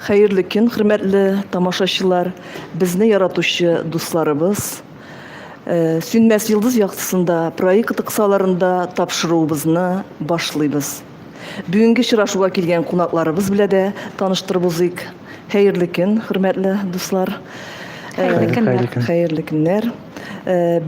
Хәерле көн, хөрмәтле тамашачылар, безне яратучы дусларыбыз. Э, Сүнмәс йолдыз яктысында проекты кысаларында тапшыруыбызны башлыйбыз. Бүгенге чырашуга килгән кунакларыбыз белә дә таныштырып узыйк. Хәерле көн, хөрмәтле дуслар. Хәерле көннәр. Хәерле көннәр.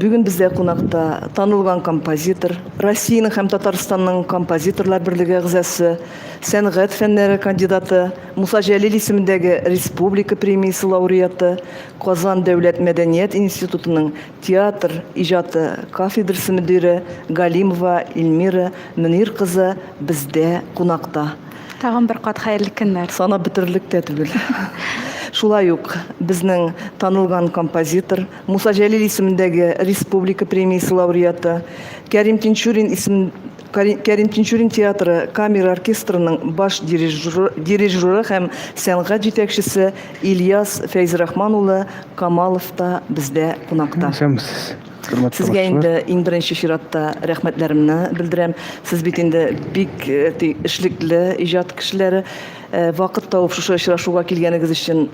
Бүген бездә кунакта танылган композитор, Россиянең һәм Татарстанның композиторлар берлеге әгъзасы сәнгать фәннәре кандидаты, Муса Җәлил исемендәге республика премиясе лауреаты, Казан дәүләт мәдәният институтының театр иҗаты кафедрасы мөдире Галимова Ильмира Мөнир кызы бездә кунакта. Тагын бер кат хәерле көннәр! Санап бетерерлек тә түгел. Шулай ук безнең танылган композитор, Муса Җәлил исемендәге республика премиясе лауреаты, Кәрим Тинчурин исем Кәрим Тинчурин театры камера оркестрының баш дирижеры һәм сәнгать җитәкчесе Ильяс Фәйзрахман улы Камалов та бездә кунакта. Сезгә инде иң беренче чиратта рәхмәтләремне белдерәм. Сез бит инде бик э, эшлекле иҗат кешеләре. Э, вакыт табып шушы очрашуга килгәнегез өчен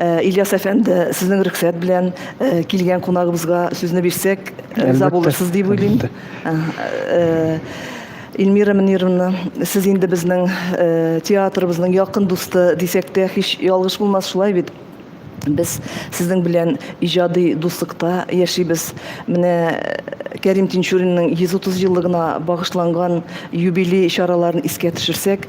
Э, Ильяс әфәнде, сезнең рөхсәт белән э, килгән кунагыбызга сүзне бирсәк, э, риза булырсыз дип уйлыйм. Эльмира Мөнировна, сез инде безнең театрыбызның якын дусты дисәк тә һич ялгыш булмас шулай бит. Без сезнең белән иҗади дуслыкта яшибез. Менә Кәрим Тинчуринның 130 еллыгына багышланган юбилей чараларын искә төшерсәк,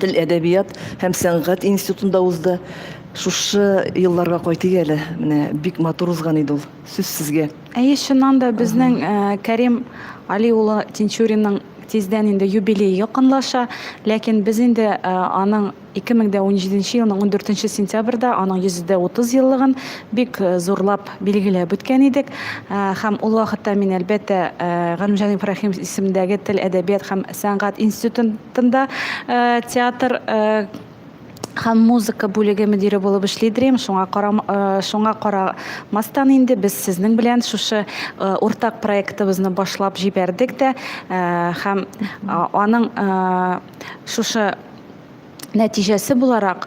тел әдәбият һәм сәнгать институтында узды. Шушы елларга кайтыйк әле. Менә бик матур узган иде ул. Сүз сезгә. Әйе, чыннан да безнең э, Кәрим Али улы Тинчуринның тиздән инде юбилей якынлаша, ләкин без инде э, аның 2017 елның 14 сентябрьдә аның 130 еллыгын бик э, зурлап билгеләп үткән идек. Э, һәм ул вакытта мин әлбәттә э, Галимҗан Ибраһим исемендәге тел әдәбият һәм Сәнгать институтында театр һәм музыка бүлеге мөдире булып эшли Дрим. Шуңа карам, шуңа карамастан инде без сезнең белән шушы уртак проектыбызны башлап җибәрдек тә һәм аның шушы нәтиҗәсе буларак,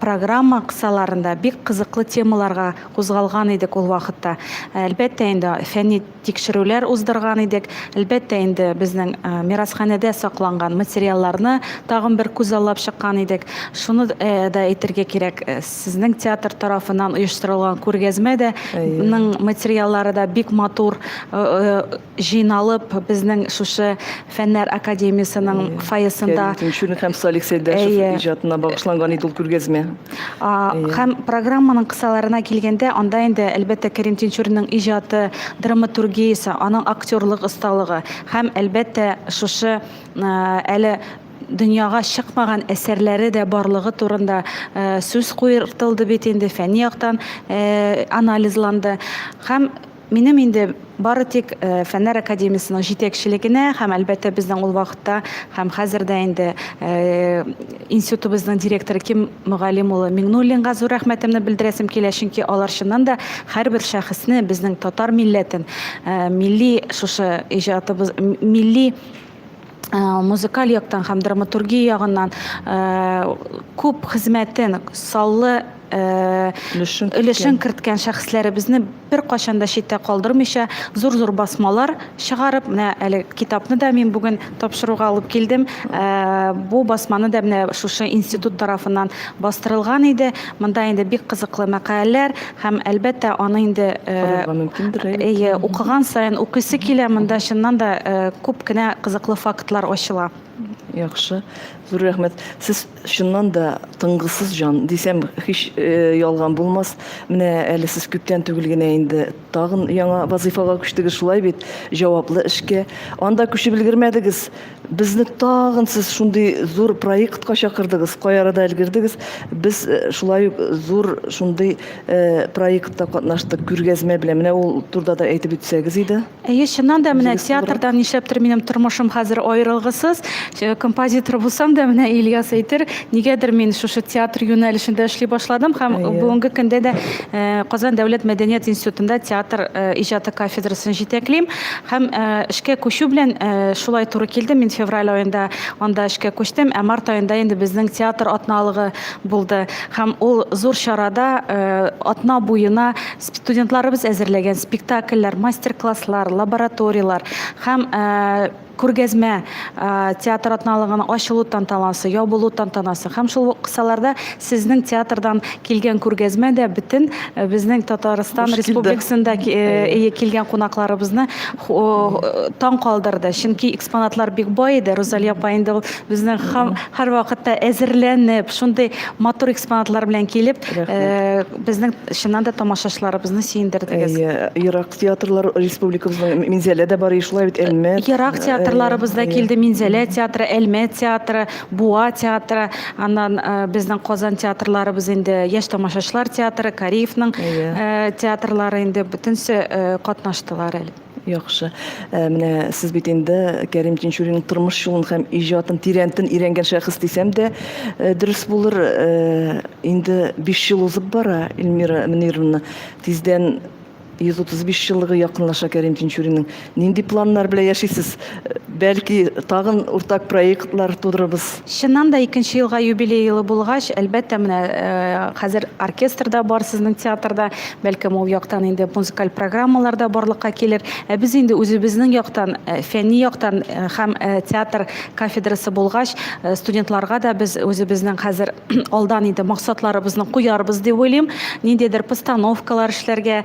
программа кысаларында бик кызыклы темаларга кузгалган идек ул вакытта. Әлбәттә инде фәнни тикшерүләр уздырган идек. Әлбәттә инде безнең мирасханәдә сакланган материалларны тагын бер күзаллап чыккан идек. Шуны да әйтергә кирәк, сезнең театр тарафыннан оештырылган күргәзмә дә, ның материаллары да бик матур, җыйналып, безнең шушы Фәннәр академиясенең фойесында Кәрим Тинчурин һәм Салих Сәйдәшев иҗатына багышланган иде ул күргәзмә. Һәм программаның кысаларына килгәндә, анда инде, әлбәттә, Кәрим Тинчуринның иҗаты, драматургиясе, аның актерлык осталыгы һәм, әлбәттә, шушы әле дөньяга чыкмаган әсәрләре дә барлыгы турында сүз куертылды бит инде, фәнни яктан анализланды. Һәм Минем инде бары тик э, фәннәр академиясенең җитәкчелегенә һәм әлбәттә безнең ул вакытта һәм хәзер дә инде э, институтыбызның директоры Ким мөгаллим улы Миңнуллинга зур рәхмәтемне белдерәсем килә, чөнки алар чыннан да һәрбер шәхесне безнең татар милләтен, э, милли шушы иҗатыбыз, милли Э, музыкаль яктан һәм драматургия ягыннан э, күп хезмәтен саллы Э, өлешен керткән шәхесләребезне беркайчан да читтә калдырмыйча зур зур басмалар чыгарып менә әле китапны да мин бүген тапшыруга алып килдем э, бу басманы да менә шушы институт тарафыннан бастырылган иде монда инде бик кызыклы мәкаләләр һәм әлбәттә аны инде э, укыган сайын укыйсы килә монда чыннан да күп кенә кызыклы фактлар ачыла яхшы зур рәхмәт сез Чыннан да, тынгысыз җан, дисәм, һич ялган булмас. Менә әле сез күптән түгел генә инде тагын яңа вазыйфага күчтегез, шулай бит? Җаваплы эшкә. Анда күчеп өлгермәдегез. Безне тагын сез шундый зур проектка чакырдыгыз. Кай арада өлгердегез? Без шулай ук зур шундый проектта катнаштык, күргәзмә белән. Менә ул турыда да әйтеп үтсәгез иде. Әйе, чыннан да менә театрдан нишләптер минем тормышым хәзер аерылгысыз. Э, композитор булсам да менә Ильяс әйтер, нигәдер мин шушы театр юнәлешендә эшли башладым һәм бүгенге көндә дә э, Казан дәүләт мәдәният институтында театр э, иҗаты кафедрасын җитәклим һәм эшкә күчү белән шулай туры килде. Мин февраль аенда анда эшкә күчтем, ә март аенда инде безнең театр атналыгы булды һәм ул зур чарада атна буена Студентларыбыз әзерләгән спектакльләр, мастер-класслар, лабораторияләр һәм күргәзмә, театр атналыгының ачылу тантанасы, ябылу тантанасы һәм шул ук кысаларда сезнең театрдан килгән күргәзмә дә бөтен безнең Татарстан Республикасында килгән кунакларыбызны таң калдырды. Чөнки экспонатлар бик бай иде. Рузалия апа инде ул безнең һәрвакытта әзерләнеп, шундый матур экспонатлар белән килеп, безнең Чыннан да тамашачыларыбызны сөендердегез. Әйе, ерак театрлар республикабызның Минзәлә дә бар, шулай бит, Әлмә. Ерак театрларыбыз да килде, Минзәлә театры, Әлмә театры, Буа театры, аннан безнең Казан театрларыбыз инде, яшь тамашачылар театры, Кариевның театрлары инде бөтенесе катнаштылар әле. Яхшы. Э, менә сез бит инде Кәрим Тинчуринның тормыш юлын һәм иҗатын тирәнтен өйрәнгән шәхес дисәм дә, э, дөрес булыр. Э, инде 5 ел узып бара, Эльмира Мөнировна. Тиздән 135 еллыгы якынлаша Кәрим Тинчуринның. Нинди планнар белән яшисез? Бәлки, тагын уртак проектлар тудырырбыз. Чыннан да, икенче елга юбилей елы булгач, әлбәттә, менә хәзер оркестр да бар сезнең театрда, бәлкем, ул яктан инде музыкаль программалар да барлыкка килер. Ә без инде үзебезнең яктан, фәнни яктан һәм театр кафедрасы булгач, студентларга да без үзебезнең хәзер алдан инде максатларыбызны куярбыз дип уйлыйм. Ниндидер постановкалар эшләргә,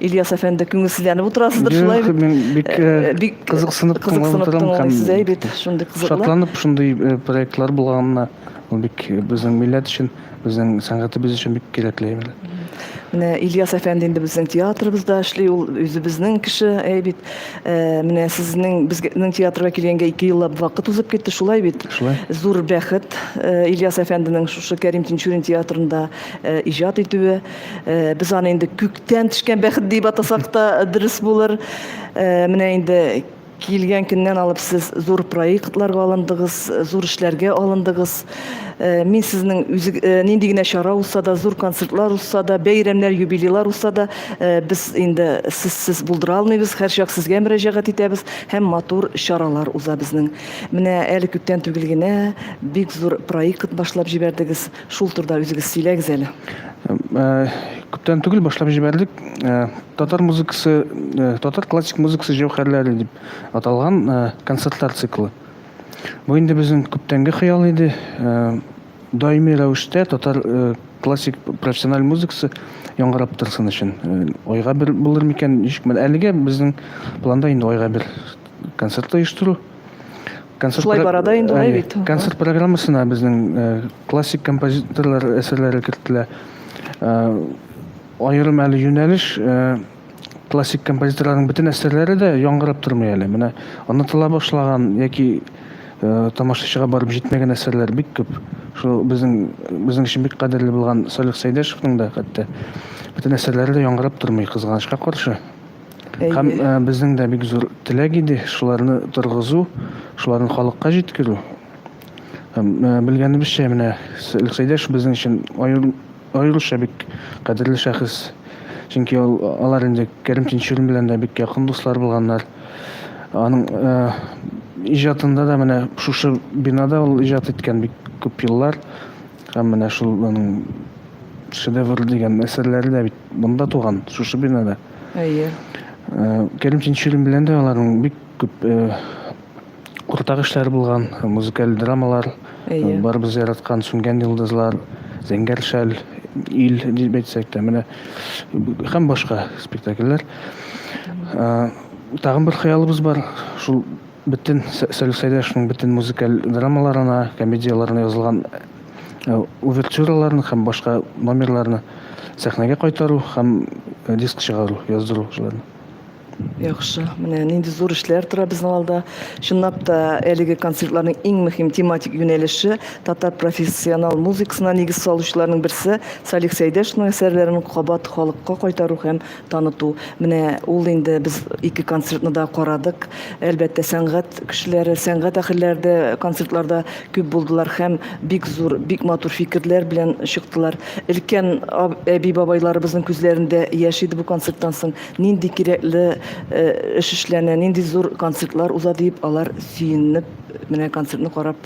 Ильяс әфәнде күңелсезләнеп утырасыздыр шулай бит. Мин бик э, э, кызыксынып кызыксынып тыңлыйсыз әй бит шундый кызыклы. Шатланып шундый э, проектлар булганына ул бик безнең милләт өчен, безнең сәнгатебез өчен бик кирәкле әйбер. Менә Ильяс әфәнде инде безнең театрыбызда эшли, ул үзебезнең кеше әй бит. Менә сезнең безнең театрга килгәнгә 2 еллап вакыт узып китте, шулай бит. Шулай. Зур бәхет Ильяс әфәнденең шушы Кәрим Тинчурин театрында иҗат итүе. Без аны инде күк Тән төшкән бәхет дип атасак та дөрес булыр. Э, менә инде килгән көннән алып сез зур проектларга алындыгыз, зур эшләргә алындыгыз. Э, мин сезнең үзе э, нинди генә чара узса да, зур концертлар узса да, бәйрәмнәр, юбилейлар узса да, э, без инде сез булдыра алмыйбыз. Һәрчак сезгә мөрәҗәгать итәбез һәм матур чаралар уза безнең. Менә әле күптән түгел генә бик зур проект башлап җибәрдегез. Шул турда үзегез сөйләгез әле. Ә, күптән түгел башлап җибәрдек. Ә, татар музыкасы, ә, татар классик музыкасы җәүһәрләре дип аталган ә, концертлар циклы. Бу инде безнең күптәнге хыял иде. Ә, даими рәвештә татар ә, классик профессиональ музыкасы яңгырап торсын өчен. Ә, айга бер булыр микән? Ничек? Әлегә безнең планда инде айга бер концерт оештыру. Концерт Шулай бара да инде алай бит. Концерт программасына безнең э, классик композиторлар әсәрләре кертелә. Э, аерым әле юнәлеш э, классик композиторларның бөтен әсәрләре дә яңгырап тормый әле. Менә онытыла башлаган яки тамашачыга барып җитмәгән әсәрләр бик күп. Шул безнең безнең өчен бик кадерле булган Салих Сәйдәшевның да хәтта бөтен әсәрләре дә яңгырап тормый кызганычка каршы. Һәм э, безнең дә бик зур теләк иде шуларны торгызу, шуларны халыкка җиткерү. Һәм э, белгәнебезчә менә Сәлих Сәйдәш безнең өчен аеруча бик кадерле шәхес. Чөнки алар инде Кәрим Тинчурин белән дә бик якын дуслар булганнар. Аның э, иҗатында да менә шушы бинада ул иҗат иткән бик күп еллар. Һәм менә шул аның шедевр дигән әсәрләре дә бит Монда туган, шушы бинада. Әйе. Кәримҗан Чирин белән дә аларның бик күп уртак эшләре булган, музыкаль драмалар, барыбыз яраткан Сүнгән йолдызлар, Зәңгәр шәл, Ил дип әйтсәк тә, менә һәм башка спектакльләр. Тагын бер хыялыбыз бар, шул бөтен Сәлих Сәйдәшевның бөтен музыкаль драмаларына, комедияләренә язылган Э, увертюраларны һәм башка номерларны сәхнәгә кайтару һәм э, диск чыгару, яздыру шуларны. Яхшы. Менә нинди зур эшләр тора безнең алда. Чынлап та әлеге концертларның иң мөһим тематик юнәлеше татар профессионал музыкасына нигез салучыларның берсе Салих Сәйдәшевның әсәрләрен кабат халыкка кайтару һәм таныту. Менә ул инде без ике концертны да карадык. Әлбәттә, сәнгать кешеләре, сәнгать әһелләре дә концертларда күп булдылар һәм бик зур, бик матур фикерләр белән чыктылар. Өлкән әби-бабайларыбызның күзләрендә яшь иде бу концерттан соң. Нинди кирәкле э, эш эшләнә, нинди зур концертлар уза диеп, алар сөенеп менә концертны карап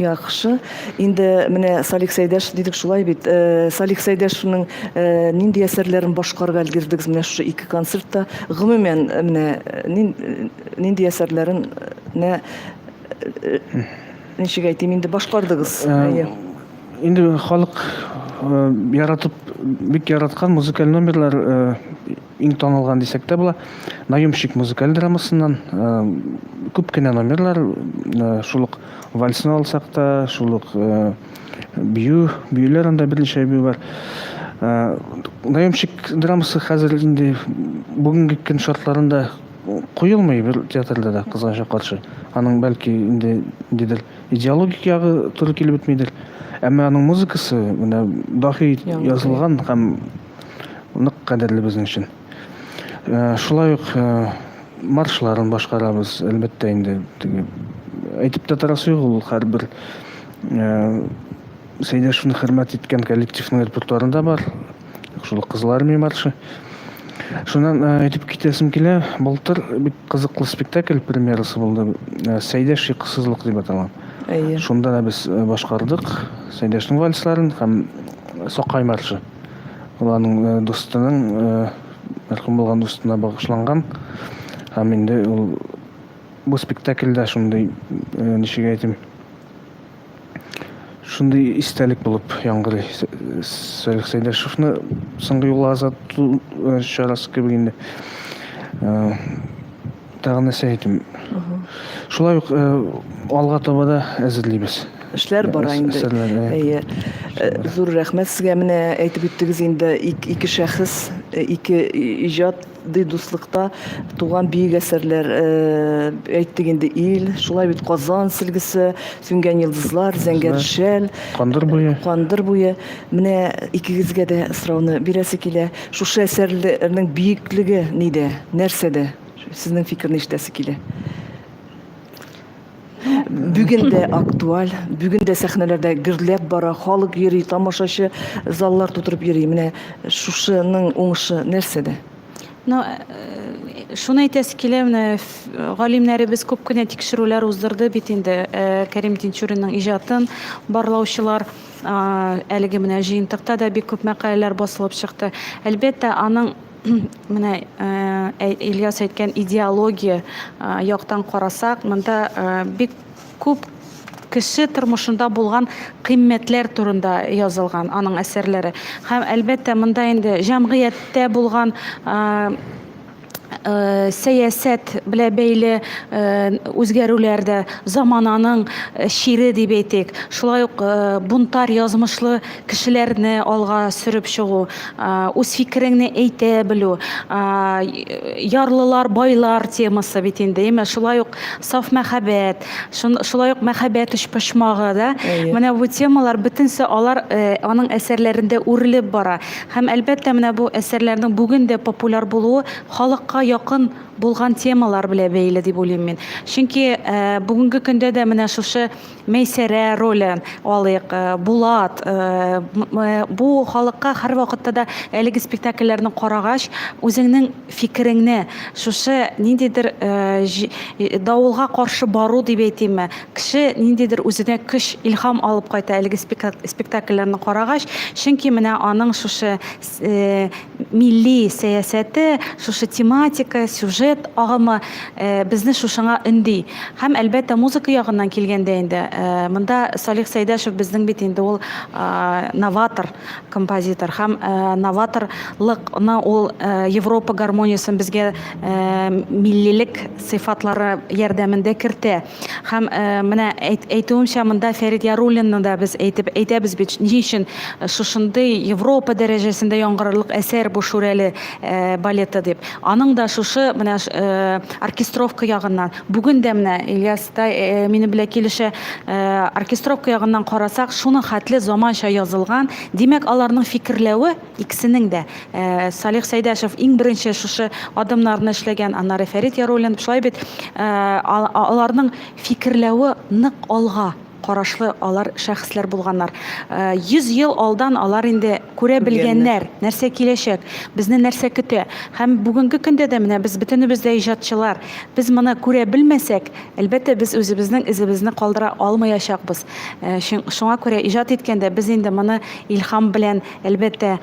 Яхшы. Инде менә Салих Сәйдәш дидек шулай бит. Э, Салих Сәйдәшевнең э, нинди әсәрләрен башкарып өлгердегез менә шушы ике концертта? Гомумән э, менә нинди әсәрләрен нә ничек әйтим инде башкардыгыз? Әйе. Инде халык яратып бик яраткан музыкаль номерлар Иң танылган дисәк тә була, Наемщик музыкаль драмасыннан күп кенә номерлар, шул ук вальсны алсак та, шул ук бию, биюләр анда берничә бию бар. Наемщик драмасы хәзер инде бүгенге көн шартларында куелмый бер театрда да кызганча каршы. Аның бәлки инде дидер идеологик ягы туры килеп бетмидер. Әмма аның музыкасы менә дахи язылган һәм нык кадерле безнең өчен. Шулай ук маршларын башкарабыз, әлбәттә инде, теге әйтеп тә торасы юк, ул һәрбер Сәйдәшевне хөрмәт иткән коллективның репертуарында бар. Шул Кызыл армия маршы. Шуннан әйтеп китәсем килә, былтыр бик кызыклы спектакль премьерасы булды. Сәйдәш йокысызлык дип аталган. Әйе. Шунда да без башкардык Сәйдәшнең вальсларын һәм Сакай маршы. Ул аның дустының, мәрхүм булган дустына багышланган. Һәм инде ул бу спектакльдә шундый, ничек әйтим, шундый истәлек булып яңгырый. Салих Сәйдәшевны соңгы юллар озату чарасы кебек инде. Тагын нәрсә әйтим? Шулай ук э, алга таба да әзерлибез. Эшләр бара инде. Әйе. Э, зур рәхмәт сезгә. Менә әйтеп үттегез инде ике шәхес, э, ике иҗат ди дуслыкта туган бөек әсәрләр әйттек инде ил шулай бит казан сөлгесе сүнгән йолдызлар зәңгәр шәл кандыр буе кандыр буе менә икегезгә дә сорауны бирәсе килә Шушы әсәрләрнең биеклеге нидә, нәрсәдә? Сезнең фикерне ишетәсе килә. Бүген дә актуаль, бүген дә сәхнәләрдә гөрләп бара, халык йөри, тамашачы заллар тутырып йөри. Менә шушының уңышы нәрсәдә? Ну, э, шуны әйтәсе килә, менә галимнәребез күп кенә тикшерүләр уздырды бит инде э, Кәрим Тинчуринның иҗатын барлаучылар. Әлеге менә җыентыкта да бик күп мәкаләләр басылып чыкты. Әлбәттә, аның менә Ильяс әйткән идеология яктан карасак, монда бик күп кеше тормышында булган кыйммәтләр турында язылган аның әсәрләре. Һәм әлбәттә, монда инде җәмгыятьтә булган сәясәт белә бәйле үзгәрүләр дә замананың чире дип әйтик. Шулай ук бунтарь язмышлы кешеләрне алга сөреп чыгу, үз фикереңне әйтә белү, ярлылар, байлар темасы бит инде, әйме? Шулай ук саф мәхәббәт, шулай ук мәхәббәт өчпочмагы, да? Менә бу темалар бөтенесе алар аның әсәрләрендә үрелеп бара. Һәм, әлбәттә, менә бу әсәрләрнең бүген дә популяр булуы халыкка якын булган темалар белән бәйле дип уйлыйм мин. Чөнки бүгенге көндә дә менә шушы Мәйсәрә ролен алыйк, Булат, бу халыкка һәрвакытта да әлеге спектакльләрне карагач, үзеңнең фикереңне, шушы ниндидер давылга каршы бару дип әйтимме, Кеше ниндидер үзенә көч, илһам алып кайта әлеге спектакльләрне карагач, чөнки менә аның шушы милли сәясәте, шушы тематика, сюжет агымы безне шушыңа өнди. Һәм, әлбәттә, музыка ягыннан килгәндә инде, монда Салих Сәйдәшев безнең бит инде ул новатор композитор һәм новаторлыкны ул Европа гармониясен безгә миллилек сыйфатлары ярдәмендә кертә. Һәм э, менә әйтүемчә, монда Фәрит Яруллинны да без әйтеп әйтәбез бит, ни өчен э, шушындый Европа дәрәҗәсендә яңгырарлык әсәр бу Шүрәле э, балеты дип. Аның да шушы менә оркестровка ягыннан. Бүген дә менә Ильяс та минем белән килешә, оркестровка ягыннан карасак, шуның хәтле заманча язылган. Димәк, аларның фикерләве Икесенең дә, Салих Сәйдәшев иң беренче шушы адымнарны эшләгән, аннары Фәрит Яруллин, шулай бит, аларның фикерләве нык алга карашлы алар шәхесләр булганнар. 100 ел алдан алар инде күрә белгәннәр, нәрсә киләчәк, безне нәрсә көтә. Һәм бүгенге көндә дә менә без бөтенебез дә иҗатчылар. Без моны күрә белмәсәк, әлбәттә, без үзебезнең эзебезне калдыра алмаячакбыз. Шуңа күрә иҗат иткәндә без инде моны илһам белән Әлбәттә,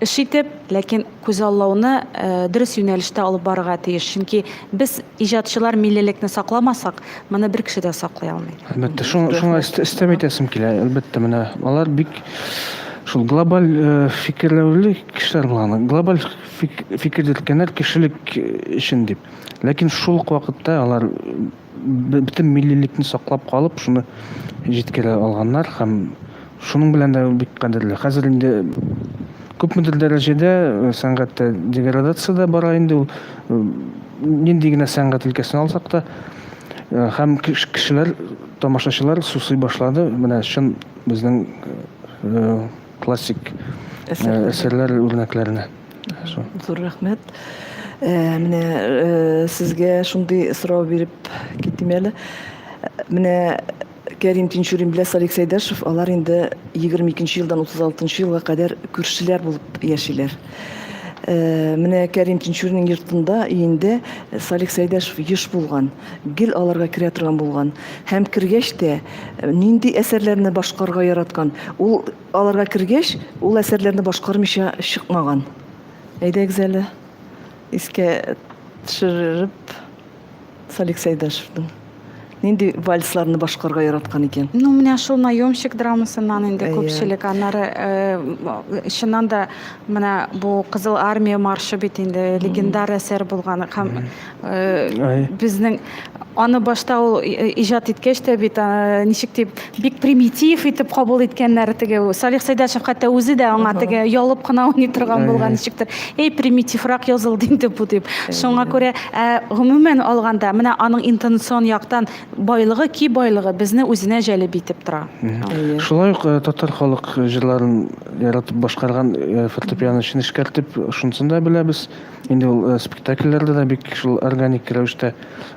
эш итеп, ләкин күзаллауны э, дөрес юнәлештә алып барырга тиеш. Чөнки без иҗатчылар миллилекне сакламасак, моны бер кеше дә саклый алмый. Әлбәттә, шуңа шуңа өстәм итәсем килә. Әлбәттә, менә алар бик шул глобаль э, фикерләүле кешеләр булган. Глобаль фик, фикер йөрткәннәр кешелек өчен дип. Ләкин шул ук вакытта алар бөтен миллилекне саклап калып, шуны җиткерә алганнар һәм Шуның белән дә ул бик кадерле. Хәзер инде күпмедер дәрәҗәдә э, сәнгатьтә деградация дә бара инде ул. Э, нинди генә сәнгать өлкәсен алсак та, э, һәм кешеләр, тамашачылар сусый башлады. Менә чын безнең классик әсәрләр үрнәкләренә. Зур рәхмәт. Э, менә э, сезгә шундый сорау биреп китим әле. Менә Кәрим Тинчурин белә Салик Сәйдәшев, алар инде 22 нче елдан 36 нчы елга кадәр күршеләр булып яшиләр. Э, менә Кәрим Тинчуринның йортында өендә Салих Сәйдәшев еш булган, гел аларга керә торган булган. Һәм кергәч тә э, нинди әсәрләрне башкарга яраткан. Ул аларга кергәч, ул әсәрләрне башкармыйча чыкмаган. Әйдәгез әле искә төшереп Салик Сәйдәшевның нинди вальсларны башкарга яраткан икән? Ну, менә шул наемщик драмасыннан инде күпчелек. Аннары э, чыннан да менә бу Кызыл армия маршы бит инде легендар әсәр булган һәм э, безнең аны башта ул иҗат иткәч тә бит э, ничек дип бик примитив итеп кабул иткәннәр теге салих сәйдәшев хәтта үзе дә аңа теге ялып кына уйный торган булган ничектер эй примитиврак язылды инде бу дип шуңа күрә ә гомумән алганда менә аның интонацион яктан байлыгы ки байлыгы безне үзенә җәлеп итеп тора шулай ук э, татар халык җырларын яратып башкарган э, фортепиано өчен эшкәртеп шунысын да беләбез Инде ул э, спектакльләрдә дә бик шул органик рәвештә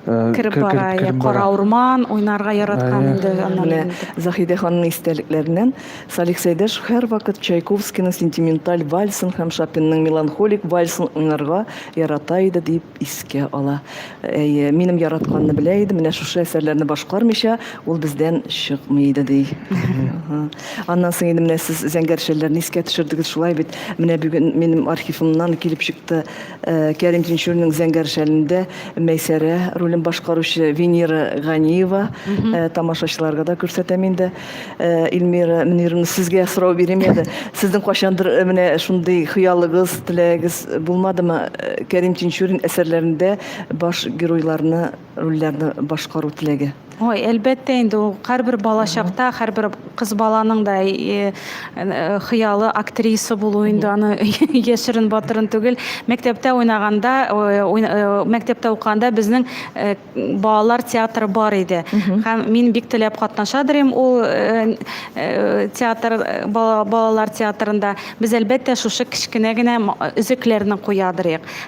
э, кереп кер- бара, кереп- иә, кереп кара бара. урман уйнарга яраткан Ә, инде аннан Менә инде. Заһидә ханымның истәлекләреннән Салих Сәйдәшев һәрвакыт Чайковскийның сентименталь вальсын һәм Шопенның меланхолик вальсын уйнарга ярата иде дип искә ала. Әйе, минем яратканны белә иде, менә шушы әсәрләрне башкармыйча ул бездән чыкмый иде ди. Ага. Аннан соң инде менә сез зәңгәрчәлләрне искә төшердегез, шулай бит. Менә бүген минем архивымнан килеп чыкты э, Кәрим Тинчуринның зәңгәрчәлендә Мәйсәрә ролен башкаручы Венера Ганиева. Э, тамашачыларга да күрсәтәм инде. Э, Эльмира Мөнировна, сезгә сорау бирим әле. Сезнең кайчандыр э, менә шундый хыялыгыз, теләгегез булмадымы? Э, Кәрим Тинчурин әсәрләрендә баш геройларны рольләрне башкару теләге? Ой, әлбәттә инде ул һәрбер балачакта, һәрбер кыз баланың да э, э, хыялы актриса булу инде аны яшерен батырын түгел. Мәктәптә уйнаганда, э, мәктәптә укыганда безнең балалар театры бар иде. Һәм мин бик теләп катнаша дирем ул театр балалар театрында. Без әлбәттә шушы кечкенә генә өзекләрне куя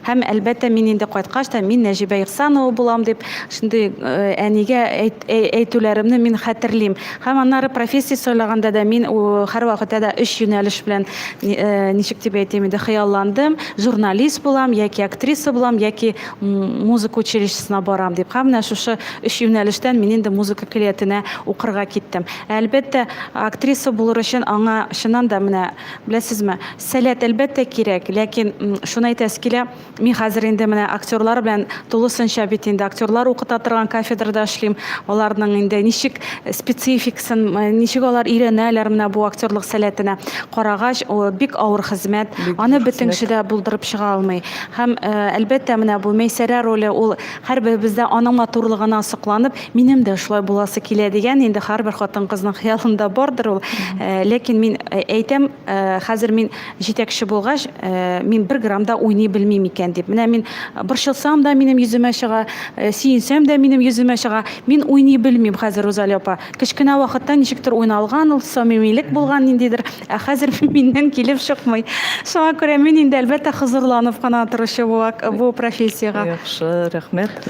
Һәм, әлбәттә, мин инде кайткач та, мин Нәҗибә Ихсанова булам дип, шундый э, әнигә әйт, әй- әйтүләремне мин хәтерлим. Һәм аннары профессия сайлаганда да мин у, һәрвакытта да өч юнәлеш белән ни- э, ничек дип әйтим инде хыялландым. Журналист булам, яки актриса булам, яки м, музыка училищесына барам дип. Һәм менә шушы өч юнәлештән мин инде музыка көллиятенә укырга киттем. Ә, Әлбәттә, актриса булыр өчен аңа чыннан да менә, беләсезме, Сәләт, әлбәттә, кирәк, ләкин шуны әйтәсе килә, мин хәзер инде менә актерлар белән тулысынча бит инде актерлар укыта торган кафедрада эшлим. Аларның инде ничек спецификасын, ничек алар өйрәнәләр менә бу актерлык сәләтенә карагач, бик авыр хезмәт. Аны бөтен кеше дә булдырып чыга алмый. Һәм, әлбәттә, менә бу Мәйсәрә роле, ул һәрберебездә аның матурлыгына сокланып, минем дә шулай буласы килә дигән инде һәрбер хатын-кызның хыялында бардыр ул. Ләкин мин әйтәм, Э, хәзер мин җитәкче булгач э, мин бер грамм да уйный белмим икән дип менә мин э, борчылсам да минем йөземә чыга сөенсәм дә минем йөземә чыга мин уйный белмим хәзер рузалия апа кечкенә вакытта ничектер уйналган ул самимилек булган ниндидер ә хәзер миннән килеп чыкмый шуңа күрә мин инде әлбәттә хозурланып кына торучы бу профессиягә яхшы рәхмәт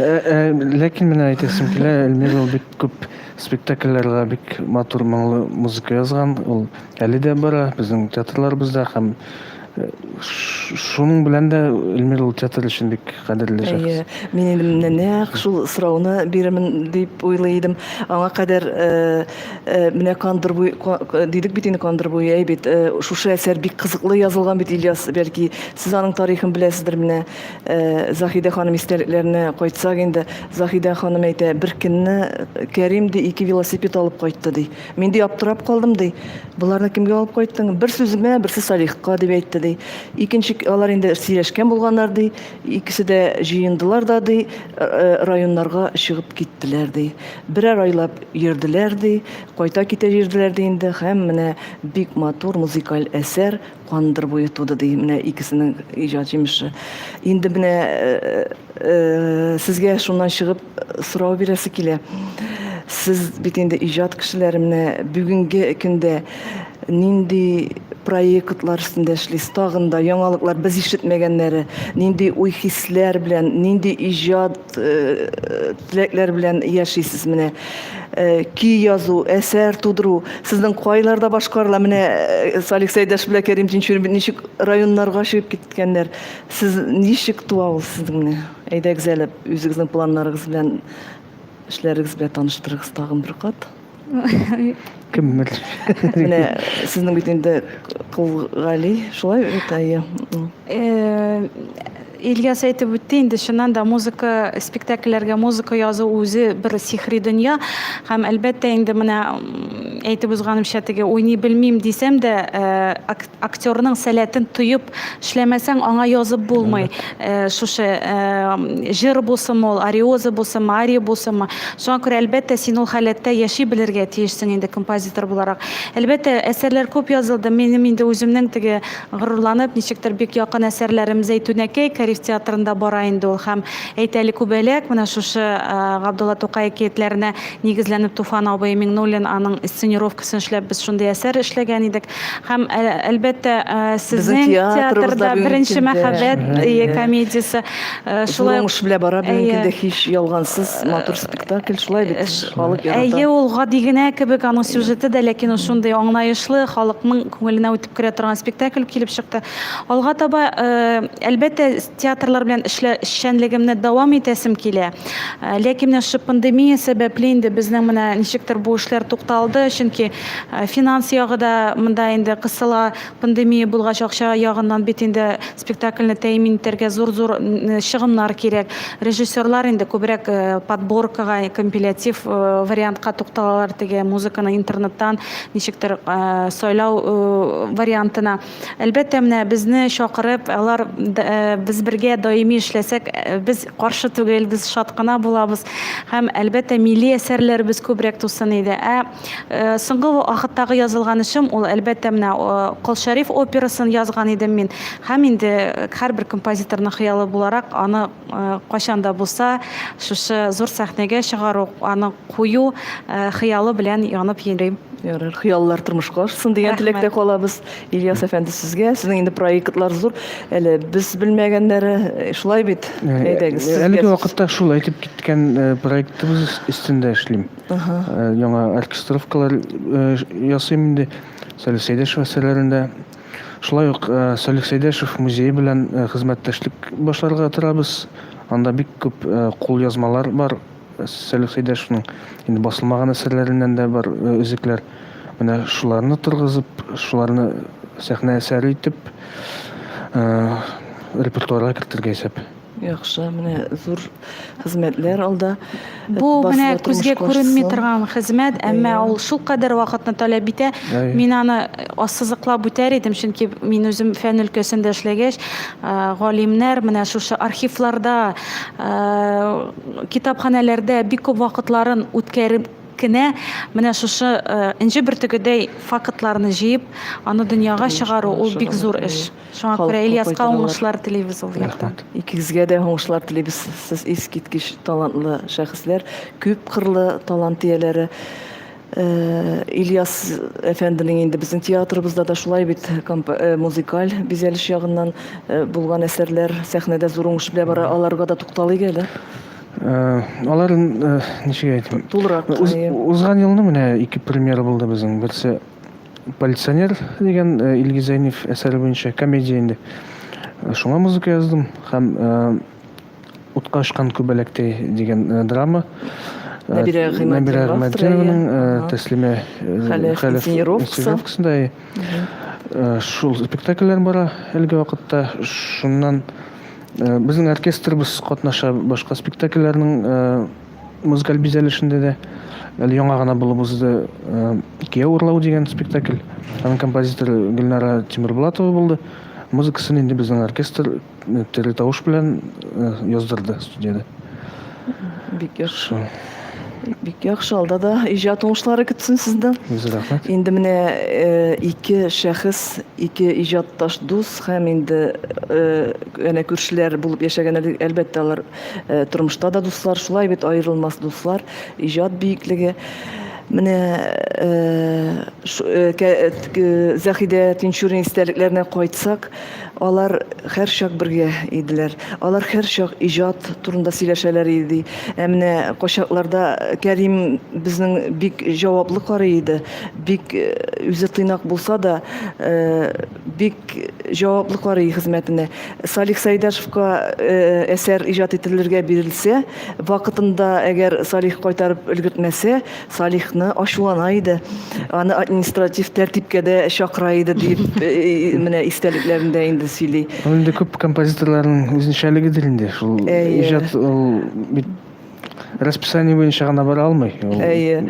ләкин менә әйтәсем килә эльмира ул бик күп спектакльләргә бик матур моңлы музыка язган ул Әле дә бара безнең театрларыбызда һәм шуның белән дә Эльмир ул театр өчен бик кадерле шәхес. Әйе, мин инде менә нәкъ шул сорауны бирермен дип уйлый идем. Аңа кадәр э, э, менә кандыр буй дидек бит инде кандыр буй әй бит. Э, шушы әсәр бик кызыклы язылган бит Ильяс, бәлки сез аның тарихын беләсездер менә. Э, Заһидә ханым истәлекләренә кайтсак инде, Заһидә ханым әйтә, бер көнне Кәрим ди ике велосипед алып кайтты ди. Мин ди аптырап калдым ди. Боларны кемгә алып кайттың? Бер сүземә, берсе Салихка дип әйтте ди. Икенче алар инде сөйләшкән булганнар ди. Икесе дә җыендылар да ди, районнарга чыгып киттеләр ди. Берәр айлап йөрделәр ди, кайта китә йөрделәр ди инде. Һәм менә бик матур музыкаль әсәр Кандыр буе туды ди, менә икесенең иҗат җимеше. Инде менә э, э, сезгә шуннан чыгып сорау бирәсе килә. Сез бит инде иҗат кешеләре менә бүгенге көндә нинди проектлар өстендә эшлисез? Тагын да яңалыклар без ишетмәгәннәре, нинди уй-хисләр белән, нинди иҗат теләкләр белән яшисез менә көй язу әсәр тудыру сезнең кайларда башкарыла менә салих сәйдәш белән кәрим тинчурин ничек районнарга чыгып киткәннәр сез ничек туа ул сезнең менә әйдәгез әле үзегезнең планнарыгыз белән эшләрегез белән таныштырыгыз тагын бер кат кем белер менә сезнең бит инде кылгали шулай бит әйе Ильяс әйтеп үтте инде чыннан да музыка спектакльләргә музыка язу үзе бер сихри дөнья һәм әлбәттә инде менә әйтеп узганымча теге уйный белмим дисәм дә э, Актерның сәләтен тоеп эшләмәсәң, аңа язып булмый. Э, шушы э, җыр булсынмы ул, ариоза булсынмы, ария булсынмы. Шуңа күрә, әлбәттә, син ул халәттә яши белергә тиешсең инде композитор буларак. Әлбәттә, әсәрләр күп язылды. Минем инде үземнең теге горурланып, ничектер бик якын әсәрләрем Зәйтүнәкәй Кариф театрында бара инде ул һәм әйт әле күбәләк менә шушы э, Габдулла Тукай әкиятләренә нигезләнеп Туфан абый Миңнуллин аның сценировкасын эшләп без шундый әсәр эшләгән идек. Һәм, әлбәттә, сезнең театрда беренче мәхәббәт комедиясе шулай ук. Уңыш белән бара, бүгенге дә һич ялгансыз, матур спектакль, шулай бит, халык ярата. Әйе, ул гади генә кебек аның сюжеты да, ләкин ул шундый аңлаешлы, халыкның күңеленә үтеп керә торган спектакль килеп чыкты. Алга таба, әлбәттә, Театрлар белән эшлә эшчәнлегемне дәвам итәсем килә. Ләкин менә шушы пандемия сәбәпле инде безнең менә ничектер бу эшләр тукталды, чөнки финанс ягы да монда инде кысыла. Пандемия булгач, акча ягыннан бит инде спектакльне тәэмин итәргә зур-зур чыгымнар кирәк. Режиссерлар инде күбрәк подборкага, компилятив вариантка тукталалар, теге музыканы интернеттан ничектер сайлау вариантына. Әлбәттә, менә безне чакырып, алар без бергә даими эшләсәк, без каршы түгел, без шат кына булабыз. Һәм әлбәттә, милли әсәрләребез күбрәк тусын иде. Ә соңгы вакыттагы язылган эшем ул әлбәттә менә Кол Шәриф операсын язган идем мин. Һәм инде һәрбер композиторның хыялы буларак аны кайчан да булса шушы зур сәхнәгә чыгару, аны кую хыялы белән янып йөрим. Ярар, хыяллар тормышка ашсын дигән теләктә калабыз. Ильяс әфәнде сезгә, сезнең инде проектлар зур. Әле без белмәгәннәре э, шулай бит. Әйдәгез, сезгә. Әлеге вакытта шул әйтеп киткән э, проектыбыз өстендә эшлим. Э, яңа оркестровкалар ясыйм инде. Сәләсәйдәш әсәрләрендә Шулай ук Салих Сәйдәшев музее белән хезмәттәшлек башларга торабыз. Анда бик күп кулъязмалар бар. Салих Сәйдәшевнең инде басылмаган әсәрләреннән дә бар өзекләр. Менә шуларны торгызып, шуларны сәхнә әсәре итеп репертуарга кертергә исәп. Яхшы, менә зур хезмәтләр алда. Бу менә күзгә күренми торган хезмәт, әмма ул шул кадәр вакытны таләп итә. Мин аны ассызыклап үтәр идем, чөнки мин үзем фән өлкәсендә эшләгәч, галимнәр менә шушы архивларда, китапханәләрдә бик күп вакытларын үткәреп кенә менә шушы энҗе бөртегедәй фактларны җыеп, аны дөньяга чыгару ул бик зур эш. Шуңа күрә Ильяска уңышлар телибез ул яктан. Рәхмәт. Икегезгә дә уңышлар телибез. Сез искиткеч талантлы шәхесләр, күп кырлы талант ияләре. Ильяс әфәнденең инде безнең театрыбызда да шулай бит музыкаль бизәлеш ягыннан булган әсәрләр сәхнәдә зур уңыш белән бара. Аларга да тукталыйк әле. Алар ничек әйтим? Тулырак. Узган елны менә ике премьера булды безнең. Берсе Полиционер дигән э, Илгиз Зәйнев әсәре буенча комедия инде. Э, шуңа музыка яздым һәм э, Утка очкан күбәләктәй дигән драма. Нәбирә Гыйматдинованың Тәслимә Хәләфинсинировкасында шул спектакльләр бара әлеге вакытта. Шуннан безнең оркестрыбыз катнаша башка спектакльләрнең музыкаль бизәлешендә дә әле яңа гына булып узды э, икегә урлау дигән спектакль аның композиторы гөлнара тимербулатова булды музыкасын инде безнең оркестр э, тере тавыш белән э, яздырды студияда бик яхшы бик яхшы алда да иҗат уңышлары көтсен сезне рәхмәт инде менә ике шәхес ике иҗатташ дус һәм инде әнә күршеләр булып яшәгән әлбәттә алар Э, тормышта да дуслар шулай бит аерылмас дуслар иҗат биеклеге менә э, э, заһидә тинчурин истәлекләренә кайтсак алар һәрчак бергә иделәр алар һәрчак иҗат турында сөйләшәләр иде ә менә качакларда кәрим безнең бик җаваплы карый иде бик үзе тыйнак булса да Бик җаваплы карый хезмәтенә. Салих Сәйдашевка әсәр иҗат ителергә бирелсә, вакытында әгәр Салих кайтарып өлгертмәсә, Салихны ачулана иде. Аны административ тәртипкә дә чакыра иде, дип менә истәлекләрендә инде сөйли. Ул инде күп композиторларның үзенчәлегедер инде шул иҗат ул бит. расписание буенча гына бара алмый. Әйе.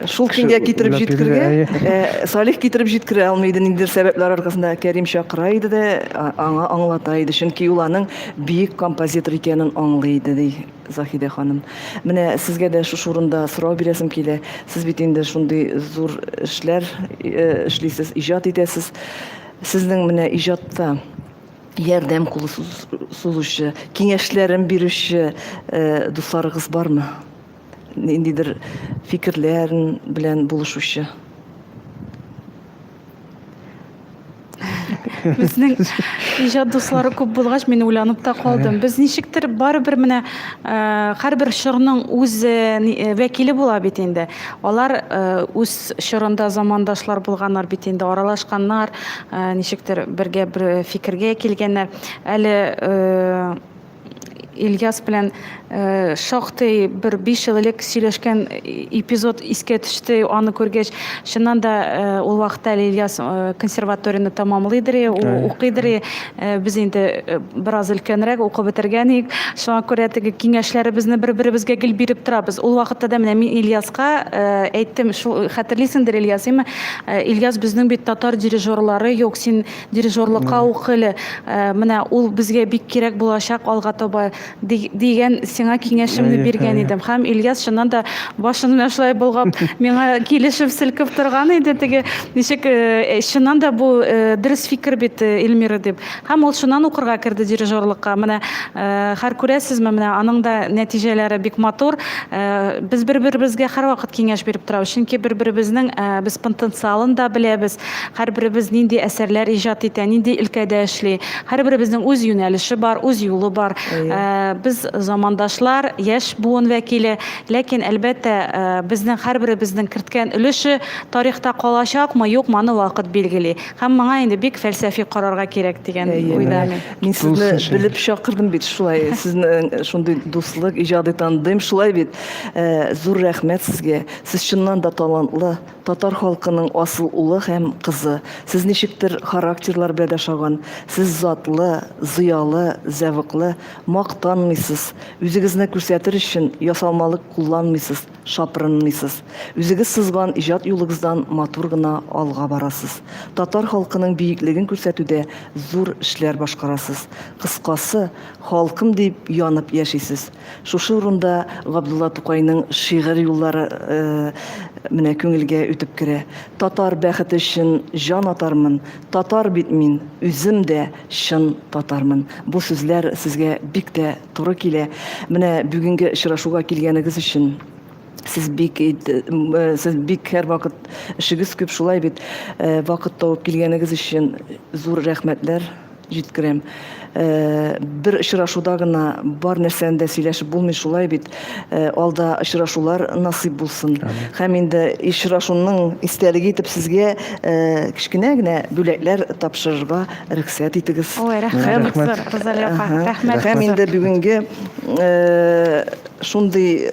Шул көнгә китереп җиткергә, э, Салих китереп җиткерә алмый иде ниндидер сәбәпләр аркасында Кәрим чакыра иде дә, аңа аңлата иде, чөнки ул аның бөек композитор икәнен аңлый иде, ди Заһидә ханым. Менә сезгә дә шушы урында сорау бирәсем килә. Сез бит инде шундый зур эшләр э, эшлисез, иҗат итәсез. Сезнең менә иҗатта ярдәм кулы сузучы, киңәшләрен бирүче э, дусларыгыз бармы? Ниндидер фикерләрен белән булышучы? Безнең иҗат дуслары күп булгач, мин уйланып та калдым. Без ничектер барыбер менә э, һәрбер чорның үз э, э, вәкиле була бит инде. Алар үз чорында замандашлар булганнар бит инде, аралашканнар, ә, ничектер бергә бер фикергә килгәннәр. Әле э, Ильяс белән э, шактый бер 5 ел элек сөйләшкән эпизод искә төште. Аны күргәч, чыннан да э, ул вакытта әле Ильяс э, консерваторияне тәмамлыйдыр, ул укыйдыр. Э, без инде э, бераз өлкәнрәк укып бетергән идек шуңа күрә теге киңәшләребезне бер беребезгә гел биреп торабыз ул вакытта да менә мин ильяска э, әйттем шул хәтерлисеңдер ильяс имә ильяс безнең бит татар дирижерлары юк син дирижерлыкка ук әле менә ул безгә бик кирәк булачак алга таба дигән сиңа киңәшемне биргән идем һәм Ильяс чыннан да башын менә шулай болгап миңа килешеп селкеп торган иде теге ничек э, э, чыннан да бу э, дөрес фикер бит Эльмира дип һәм ул шуннан укырга керде дирижерлыкка менә хәр күрәсезме менә аның да нәтиҗәләре бик матур без бер беребезгә һәрвакыт киңәш биреп торабыз чөнки бер беребезнең без потенциалын да беләбез Һәрберебез нинди әсәрләр иҗат итә, нинди өлкәдә эшли. Һәрберебезнең үз юнәлеше бар, үз юлы бар. Ә, без замандашлар, яшь буын вәкиле. Ләкин, әлбәттә, ә, безнең һәрберебезнең керткән өлеше тарихта калачакмы, юкмы, аны вакыт билгели. Һәм моңа инде бик фәлсәфи карарга кирәк дигән уйда мин. Мин сезне белеп чакырдым бит шулай. Сезнең шундый дуслык, иҗади тандем шулай бит. Ә, зур рәхмәт сезгә. Сез чыннан да талантлы. Татар халкының асыл улы һәм кызы. Сез ничектер характерлар белә дә шаган. Сез затлы, зыялы, зәвыклы, мактанмыйсыз, үзегезне күрсәтер өчен ясалмалык кулланмыйсыз, шапрынмыйсыз. Үзегез сызган иҗат юлыгыздан матур гына алга барасыз. Татар халкының биеклеген күрсәтүдә зур эшләр башкарасыз. Кыскасы, халкым дип янып яшисез. Шушы урында Габдулла Тукайның шигырь юллары менә күңелгә үтеп керә. Татар бәхете өчен җан атармын, татар бит мин, үзем дә чын татармын. Бу сүзләр сезгә бик тә туры килә. Менә бүгенге очрашуга килгәнегез өчен сез бик сез бик һәрвакыт эшегез күп шулай бит. Вакыт табып килгәнегез өчен зур рәхмәтләр. Җиткерәм. Бер очрашуда гына бар нәрсәне дә сөйләшеп булмый шулай бит. Алда очрашулар насыйп булсын. Һәм инде очрашуның истәлеге итеп сезгә кечкенә генә бүләкләр тапшырырга рөхсәт итегез. Ой, рәхмәт, Розалия апа. Рәхмәт. Һәм инде бүгенге шундый